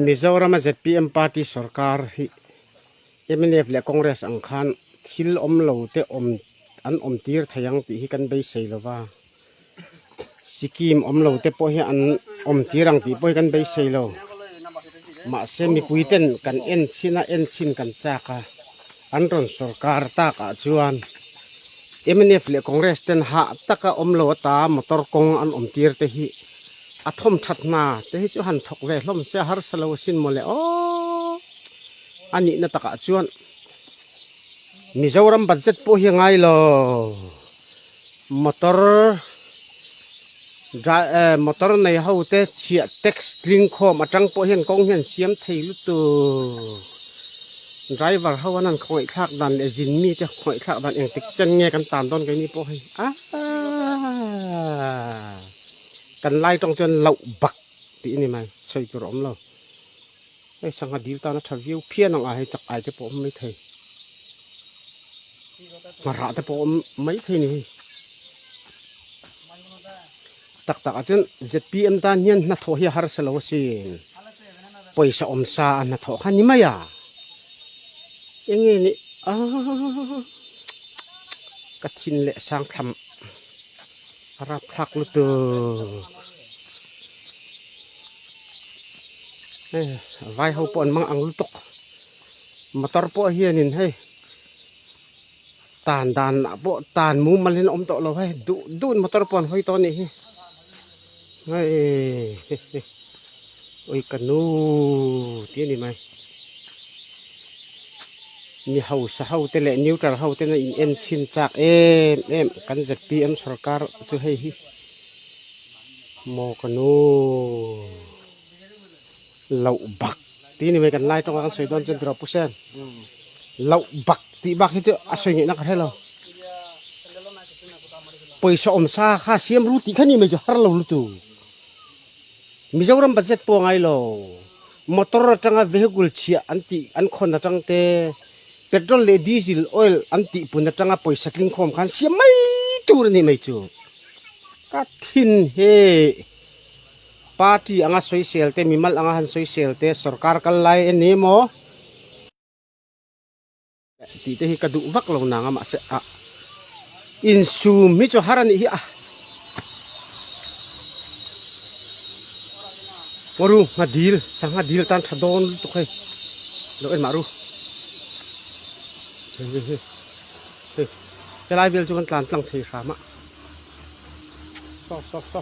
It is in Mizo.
Mizoram-a zpm party sorkar hi mnf leh congress ang khan thil awm lo te awm an awm tir thei ang tih hi kan beisei lo va, sikkim awm lo te pawh hi an awm tir ang tih pawh hi kan beisei lo, mahse mipuiten kan en chhin a en chhin kan chak a. An rawn sorkar tak ah chuan mnf leh congress ten hah tak a awm lo a ta a, motor kawng an awm tir te hi a thawm that hna te hi chu han thawk ve hlawm sia harsa lo asin maw le aw a nihna tak ah chuan Mizoram budget pawh hi a ngai lo. Motor dra eh motor nei ho te chhiah tax tling khawm atang pawh hian kawng hian siam thei lutu driver ho an han khawih thlak dan leh zin mi te khawih thlak dan eng tik chen nge kan tan dawn keini pawh hei a kan lai tawng chuan loh bak tih a ni mai sawi tur awm lo. Hei sangha dil tana tha viau phian ang a hei chak ai te pawh awm mai thei. Ngarha te pawh awm mai thei ni hei. Tak tak a chun ZPM tan hian na thaw hi har sa lo sin. Paisa om sa a na thaw kha ni mai a. Enge ni a. Ka thin le sang thlam. Rap thlak lutuk. Vai ho pawh an mang ang lutuk. Motor pawh hian in hei. Tan dan ah pawh tan mu mal hin awm tawh lo hei. Duh duh motor pawh an hawi tawh a nih hi. Hei. Ui ka nu tih a ni mai. Mi hausa hote leh neutral hoten a in en chhin chak em em kan zpm sorkar chu hei hi maw ka nu loh bak tih a ni mai kan lai tawng a kan sawi dawn chuan Draw Pusen loh bak tih bak hi chu a sawi ngeh na ka hre lo pawisa awm sa kha siam ru tih kha a ni mai chu har lo lutuk. Mizoram budget pawh a ngai lo. Motor atanga vehicle chhia an tih an khawn atang te, petrol leh diesel, oil, an tih pun atanga pawisa tling khawm khan siam mai tur a nih mai chu. Ka thin he party anga soisel te, mimal anga han soisel te sorkar kal lai a ni maw? Tih te hi ka duh vak lo nang a mahse a insum hi chu har a nih hi a Waru nga dil sangha dil tan tha dawn tu khai lo en maru he he he he cái lai vel chu kan tlan tlang thei hram a so so so